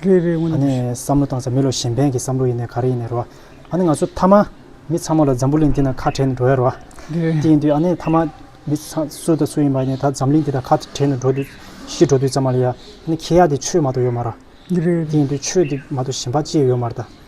རེད་རེད་ང་ནི་བསམ་བློ་བཏང་ས་མི་ལོ་གཞན་ཕན་གྱི་བསམ་བློ་ཡིན་ནས་ག་རེ་ཡིན་ནས་རེད་བ། ཨ་ནི་ང་ཚོ་མཐའ་མ་མི་ཚང་མ་ལ་འཛམ་བུ་གླིང་འདི་ན་ཁ་བྲལ་ནས་འགྲོ་ཡ་རེད་བ། དེ་ཡིན་དུས་ཨ་ནི་མཐའ་མ་མི་ཚང་སུ་དང་སུ་ཡིན་པ་ཡིན་ད་འཛམ་གླིང་འདི་དང་ཁ་བྲལ་ནས་འགྲོ་དུས་ཤི་འགྲོ་དུས་ཙམ་མ་ལ་ཡ། ཨ་ནི་ཁྱེད་ཡ་དེ་ཆོས་མ་གཏོགས་ཡོད་མ་ར། དེ་ཡིན་དུས་ཆོས་དེ་མ་གཏོགས་གཞན་པ་ཅི་ཡོད་མ་ར་ད།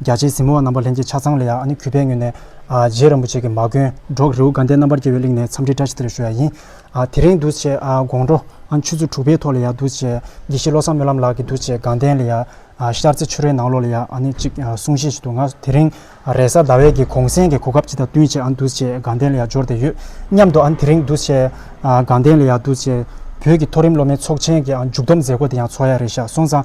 རྒྱ་ཆེའི་གཟིགས་མོ་བ་རྣམ་པ་ལྷན་རྒྱས་ཆ་ཚང་ལ་ཡང་ཨ་ནི་གུས་པས་ངོས་ནས། རྗེ་རིན་པོ་ཆེ་གི་མ་མགོན། འབྲོག་རི་བོ་དགའ་ལྡན་རྣམ་པར་རྒྱལ་བའི་གླིང་ནས་འཚམས་འདྲིའི་བཀྲ་ཤིས་བདེ་ལེགས་ཞུ་བ་ཡག་ཡིན། དེ་རིང་འདུ་བྱེད་དགོང་དྲོ་ཨ་ཆུ་ཚོད་དྲུག་པའི་ཐོག་ལ་ཡང་འདུ་བྱེད་དགེ་བཤེས་བློ་བཟང་སྨོན་ལམ་ལགས་ཀྱི་འདུ་བྱེད་དགའ་ལྡན་ལ་ཡང་ཤར་རྩེ་ཆུ་རའི་ནང་ལོགས་ལ་ཡང་ཨ་ནི་གཅིག་གསུང་བཤད་བྱེད་འདུག་ང་དེ་རིང་རེས་གཟའ་ཟླ་བའི་གི་གུང་སེང་གི་གོ་སྐབས་སྤྱི་དང་བསྟུན་བྱས་ཨ་འདུ་བྱེད་དགའ་ལྡན་ལ་ཡང་འབྱོར་བསྡད་ཡོད་སྙམ་འདུག་ཨ་དེ་རིང་འདུ་བྱེད་དགའ་ལྡན་ལ་ཡང་འདུ་བྱེད་བོད་ཀྱི་མཐོ་རིམ་སློབ་མའི་ཚོགས་ཆེན་གྱི་མཇུག་སྡོམ་མཛད་སྒོ་དེ་ཡང་ཚོགས་ཡ་རེ་ཤག་སོང་ཙང།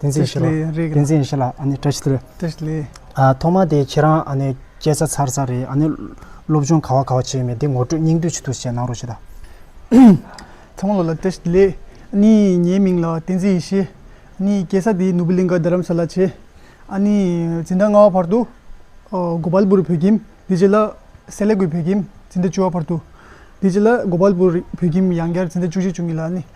ཏིང་འཛིན་བཞི་ལ། ཏིང་འཛིན་བཞི་ལ་ཨ་ནི་བཀྲ་ཤིས་རེད། བཀྲ་ཤིས་ལེ། ཐོག་མ་དེ་ཁྱེད་རང་ཨ་ནི་སྐད་ཆ་ཚར་ཚར་རེད་ཨ་ནི། སློབ་སྦྱོང་ག་བ་ག་བ་བྱས་མེད་དེ་ངོ་སྤྲོད་སྙིང་བསྡུས་ཇི་ཐུབ་བྱས་གནང་རོགས་གྱིས་དང། ཚང་མ་ལོ་ལ་བཀྲ་ཤིས་ལེ། ཨ་ནི་ངའི་མིང་ལ་ཏིང་འཛིན་བཞི། ཨ་ནི་སྐྱེས་ས་དེ་ནུབ་བི་ལིང་ག་རྡ་རམ་ས་ལ་བྱས། ཨ་ནི་འཛིན་གྲྭ་ལྔ་བ་བར་དུ། གོ་པཱལ་པུར་བོད་ཁྱིམ་དེ་རྗེས་ལ་སེ་ལེ་གུའི་བོད་ཁྱིམ་འཛིན་གྲྭ་བཅུ་བ་བར་དུ། དེ་རྗེས་ལ་གོ་པཱལ་པུར་བོད་ཁྱིམ་ཡང་བསྐྱར་འཛིན་གྲྭ་བཅུ་གཅིག་བཅུ་གཉིས་ལ་ཨ་ནི།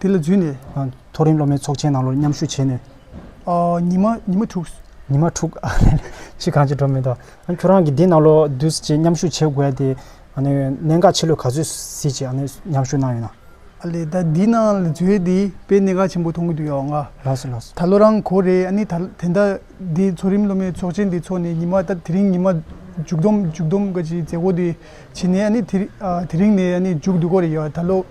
དེ་ལ་བརྫུས་ནས། མཐོ་རིམ་སློབ་མའི་ཚོགས་ཆེན་ནང་ལོར་མཉམ་ཞུགས་བྱས་ནས། ཉི་མ་ཉི་མ་དྲུག། ཉི་མ་དྲུག། ཕྱིས་གང་བྱེད་འགྲོ་མི་འདུག་ཁྱོད་རང་གིས་འདི་ནང་ལོར་བསྡུ་བྱས་མཉམ་ཞུགས་བྱེད་དགོས་ཏེ། གནད་འགག་ཆེ་ལོས་ག་ཚོད་སྲིད་ཅེས་མཉམ་ཞུགས་གནང་ཡོད་ན། ཨ་ལས་ད་འདི་ནང་ལ་བརྫུས་ཏེ་དཔེ་གནད་འགག་ཆེན་པོ་མཐོང་གི་འདུག་ཡོང་ཨ། ལགས་སོ་ལགས་སོ། ད་ལོ་རང་གོ་རེད་ཨ་ནི་ད་དེ་འདི་མཐོ་རིམ་སློབ་མའི་ཚོགས་ཆེན་འདི་ཚོགས་ནས་ཉི་མ་ད་དེ་རིང་ཉི་མ་མཇུག་བསྡོམས་མཇུག་བསྡོམས་ཀྱི་མཛད་སྒོ་འདི་བྱས་ནས་ཨ་ནི་དེ་རིང་ནས་ཨ་ནི་མཇུག་བསྡུ་གོ་རེད་ཡོད་ད་ལོ།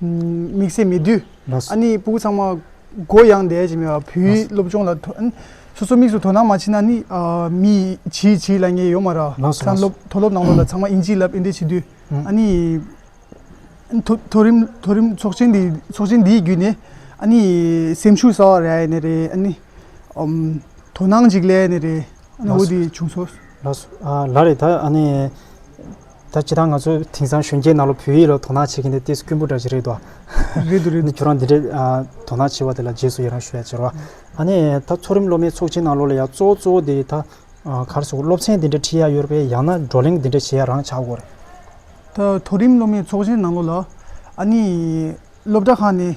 དམིགས་བསལ་མི་བསྡུ། ཨ་ནི་སྤུ་གུ་ཚང་མ་མགོ་ཡང་འདས་ཀྱི་མེད་པ་བུའི་སློབ་སྦྱོང་ལ་སོ་སོ་དམིགས་སུ་དོ་སྣང་མ་བྱེད་ན་ནི་མི་ཡིས་བྱིས་ལ་ཉེས་ཡོད་མ་རང་ལགས་སོ། མཐོ་སློབ་ནང་ལོགས་ལ་ཚང་མ་དབྱིན་ཇིའི་ལབ་དབྱེ་འབྲེལ་བྱེད་དུས་ཨ་ནི་མཐོ་རིམ་མཐོ་རིམ་ཚོགས་ཆེན་འདི་ཚོགས་ཆེན་འདིའི་བརྒྱུད་ནས་ཨ་ནི་སེམས་ཤུགས་གསར་བ་རག་ཡས་ནི་རེད་ཨ་ནི་དོ་སྣང་ཅིག་ལས་ནི་རེད་ཨ་ནི་འོ་དེ་བྱུང་སོང། ལ་རེད་ད་ཨ་ནི། ད་ཇི་ལྟར་ང་ཚོ་དེང་སང་གཞོན་སྐྱེས་རྣམས་ལ་བོད་ཡིག་ལ་དོ་སྣང་བྱེད་མཁན་དེ་ལྟས་སུ་སྐྱོན་པོ་འདྲ་ཞིག་རེད་དོ། རེད་དོ་རེད་དོ། ཁྱོད་རང་འདི་འདྲའི་དོ་སྣང་བྱེད་པ་དེ་ལ་རྗེས་སུ་ཡི་རང་ཞུ་བ་ཅེར་བ། ཨ་ནི་ད་མཐོ་རིམ་སློབ་མའི་ཚོགས་ཆེན་ནང་ལོག་ལ་ཡང་གཙོ་བོ་གཙོ་བོ་དེ་ད་གར་སོང་སློབ་ཚན་འདི་འདྲ་ཁྲིད་ཡ་ཡོད་ར་པས་ཡང་ན་བགྲོ་གླེང་འདི་འདྲ་བྱེད་ཡ་རང་བྱ་དགོས་རེད། ད་མཐོ་རིམ་སློབ་མའི་ཚོགས་ཆེན་ནང་ལོག་ལ་ཨ་ནི་སློབ་གྲྭ་ཁག་ནས་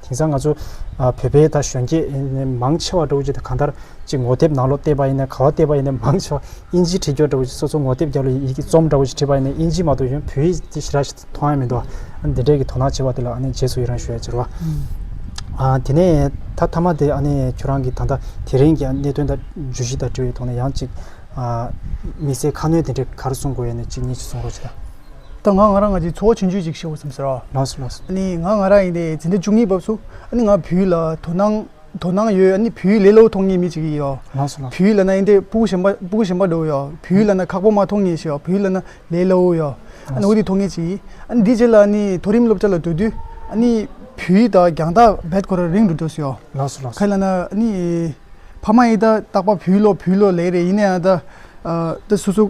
དེང་སང་ང་ཚོ་བོད་པའི་ད་གཞོན་སྐྱེས་མང་ཆེ་བ་འགྲོ་ཀྱི་གང་ལྟར་གཅིག་ངོ་དེབ་ནང་ལོག་བལྟས་པ་ཡིན་ནས་ག་བ་བལྟས་པ་ཡིན་ནས་མང་ཆེ་བ་དབྱིན་ཇིའི་བྲིས་སྐྱོར་འགྲོ་ཀྱི་སོ་སོ་ངོ་དེབ་རྒྱབ་ལ་ཡི་གེ་རྩོམ་འདྲ་བོ་ཞིག་བྲིས་པ་ཡིན་ནས་དབྱིན་ཇིའི་མ་གཏོགས་གཞོན་བོད་ཡིག་ཅིག་ཤི་ར་ཞིག་མཐོང་ཡ་མི་འདུག་ཨ་ནི་འདི་འདྲས་ཀྱི་དོ་སྣང་བྱས་པ་དེ་ལ་ཨ་ནི་རྗེས་སུ་ཡི་རང་ཞུ་ཡ་ཅི་རོ། ཨ་དེ་ནས་ད་མཐའ་མ་དེ་ཨ་ནི་ཁྱོད་རང་གི་ད་ལྟ་དེ་རིང་གི་གནད་དོན་དང་བརྗོད་གཞི་དང་འབྲེལ་བའི་ཐོག་ནས་ཡང་ཅིག་ཨ་དམིགས་བསལ་ཁ་སྣོན་དེ་འདྲས་ག་རེ་གསུང་དགོས་ཡ་ནི་གཅིག་གཉིས་ཅིག་གསུང་རོགས་གྱིས་དང། ད་ང་ང་རང་ང་ཅིག་འཚོ་བ་ཆུང་ཆུང་ཅིག་ཤོག་ཟེར་རོ། ལགས་སོ་ལགས་སོ། ཨ་ནི་ང་ང་རང་ཡིན་ཏེ་འཛིན་གྲྭ་བཅུ་གཉིས་བབས་སོ། ཨ་ནི་ང་བུའི་ལ་དོ་སྣང་དོ་སྣང་ཡོད་ཨ་ནི་བུའི་ལས་སློབ་མཐོང་ངེས་མེད་ཅིག་ཡིན་ཡོད། ལགས་སོ་ལགས་སོ། བུའི་ལ་ན་ཡིན་ཏེ་སྤུ་གུ་ཞན་པ་སྤུ་གུ་ཞན་པ་འགྲོ་ཡོད། བུའི་ལ་ན་ཁག་པོ་མ་མཐོང་ངེས་ཤིག་བུའི་ལ་ན་ལས་སླ་བོ་ཡོད། ཨ་ནི་འོ་དེ་མཐོང་ངེས་ཅིག་ཡིན། ཨ་ནི་དེའི་རྗེས་ལ་ཨ་ནི་མཐོ་རིམ་སློབ་གྲྭ་ལ་སྡོད་དུས་ཨ་ནི་བུའི་ད་རྒྱང་ཐག་བེད་ཁོ་ར་རིང་དུ་འགྲོ་སྲིད་ཡོད། ལགས་སོ་ལགས་སོ། ཁ་ལ་ན་ཨ་ནི་ཕ་མ་ཡིས་ད་རྟག་པ་བུའི་བློ་བུའི་བློ་ལས་རེད་ཡིན་ན་ཡང་ད་ད་སོ་སོ།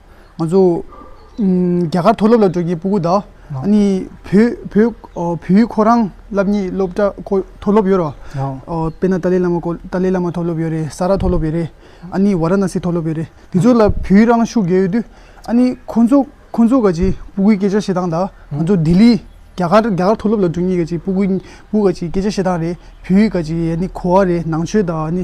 ང་ཚོ་རྒྱ་གར་མཐོ་སློབ་ལ་འགྲོ་མཁན་སྤུ་གུ་དང་ནི་བོད་ཁོ་རང་སླབ་གཉིས་སློབ་གྲ་མཐོ་སློབ་ཡོད་རོ། དཔེ་ན་ཏཱ་ལའི་བླ་མ་ཀོ་ཏཱ་ལའི་བླ་མ་མཐོ་སློབ་ཡོད་རེད་ས་ར་མཐོ་སློབ་ཡོད་རེད་ཨ་ནི་བ་ར་ན་སི་མཐོ་སློབ་ཡོད་རེད་དེ་ཚོ་ལ་བོད་རང་ཤུགས་རྒྱལ་ཡོད་དུས་ཨ་ནི་ཁོ་ཚོ་ཁོ་ཚོ་ག་ཅིག་སྤུ་གུའི་སྐད་ཆ་བཤད་སྟངས་དང་ང་ཚོ་ལྡི་ལི་རྒྱ་གར་རྒྱ་གར་མཐོ་སློབ་ལ་འགྲོ་མཁན་ག་ཅིག་སྤུ་གུ་སྤུ་ག་ཅིག་སྐད་ཆ་བཤད་སྟངས་རེད་བོད་ཡིག་ག་ཅིག་ཡ་ནི་གོ་བ་རེད་ནང་ཆོས་དང་ནི།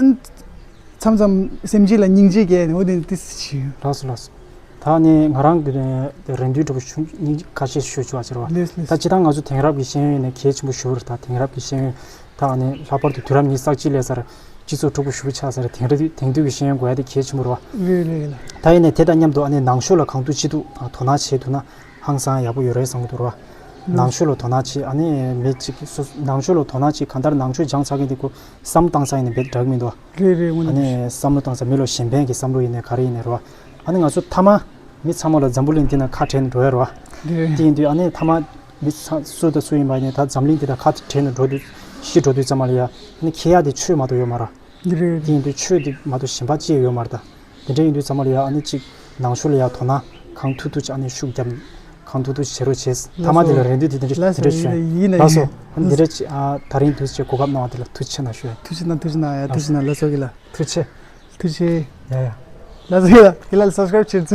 མཚམས་མཚམས་སེམས་སྐྱིད་ལ་སྙིང་རྗེ་རྒྱས་ནས་འོ་དེ་ཏི་སི་བྱིའུ། ལགས་སོ་ལགས་སོ། ད་ནི་ང་རང་གིས་རེ་འདུན་སྒྲུབ་ཆུ་སྙིང་ཁ་ཤས་ཞུ་ཆོག་ཟེར་བ། ལེས་ལེས། ད་ཇི་ལྟར་ང་ཚོ་དེང་རབས་ཀྱི་ཤེས་ཡོན་ནས་གལ་ཆེན་པོ་ཞུ་རུ་ད་དེང་རབས་ཀྱི་ཤེས་ཡོན་དག་ནི་ལྷག་པར་དུ་དུས་རབས་ཉིས་བསགས་སྤྱི་ལས་སར་སྤྱི་ཚོགས་འཁྲུག་པོ་ཞུ་གི་ཆགས་ས་རེད་དེང་རི་དེང་དུས་ཀྱི་ཤེས་ཡོན་དགོས་ཡ་དེ་གལ་ཆེན་པོ་རུ་བ། ལེས་ལེས་ལེས། ད་ཡིན་ནས་དེ་དང་མཉམ་དུ་ནང་ཆོས་ལ་གང་ཐུག་ཅི་ཐུག་དོ་སྣང་བྱེད་ཐུབ་ན་ཧང་སང་ཡག་པོ་ཡོད་རེད་བཟང་གི་འདུག་ར། ནང་ཆོས་ལ་དོ་སྣང་བྱེད་ཨ་ནི་མེད་ཅིག་སོ་སོ་ནང་ཆོས་ལ་དོ་སྣང་བྱེད་གང་ལྟར་ནང་ཆོས་སྦྱང་ཚར་མཁན་དེ་ཀུ་སམ་བཏང་ས་ཡིན་ནི་འབད་དགྲ་གི་མི་འདུག་རེད་རེད་དངོས་ཨ་ནས་ནི་བཤད་བསམ་བློ་བཏང་ས་མི་ལོ་གཞན་ཕན་གི་བསམ་བློ་ཡིན་ནི་ག་རེ་ཡིན་ནི་ར། ཨ་ནི་ང་ཚོ་མཐའ་མ་མི་ཚང་མ་ལ་འཛམ་བུ་གླིང་འདི་ན་ཁ་བྲལ་ནི་འགྲོ་ཡ་ར། རེད། དེ་ཡིན་དུས་ཨ་ནི་མཐའ་མ་མི་ཚང་སུ་དང་སུ་ཡིན་པ་ཡིན་ནི་ད་འཛམ་གླིང་འདི་ད་ཁ་བྲལ་ནི་འགྲོ་དུས་ཤི་འགྲོ་དུས་ཙམ་མ་ལ་ཡ་ཨ་ནི་ཁྱེད་ཡ་དེ་ཆོས་མ་དོ་ཡོད་མ་ར། རེད་རེད། དེ་ཡིན་དུས་ཆོས་དེ་མ་དོ་གཞན་པ་ཅི་ཡ་ཡོད་མ་ར་ད། དེ་འདྲ་ཡིན་དུས་ཚང་མ་ལ་ཡང་ཨ་ནི་གཅིག་ནང་ཆོས་ལ་ཡང་དོ་སྣང་གང་ཐུག་ཐུག་ཅིག་ཨ་ནི་ཤུགས་རྒྱབ། གང་ཐུག་ཐུག་ཅིག་བྱེད་རོགས་བྱས། མཐའ་མ་དེ་ལ་རེ་འདུན་དེ་འདྲ་བྱོན། ལགས་སོ། ཨ་ནི་འདི་འདྲ་ཅིག་ད་རིང་དུས་ཅིག་གོ་སྐབས་གནང་བ་དེ་ལ་ཐུགས་ཆེ་ན་ཞུ། ཐུགས་ཆེ་ན་ཐུགས་ཆེ་ན་ཡ་ཐུགས་ཆེ་ན་ལགས་སོ་གི་ལ། ཐུགས་ཆེ། ཐུགས་ཆེ། ཡ་ཡ། ལགས་སོ་གི་ལ་གི་ལ་ལ subscribe བྱེད།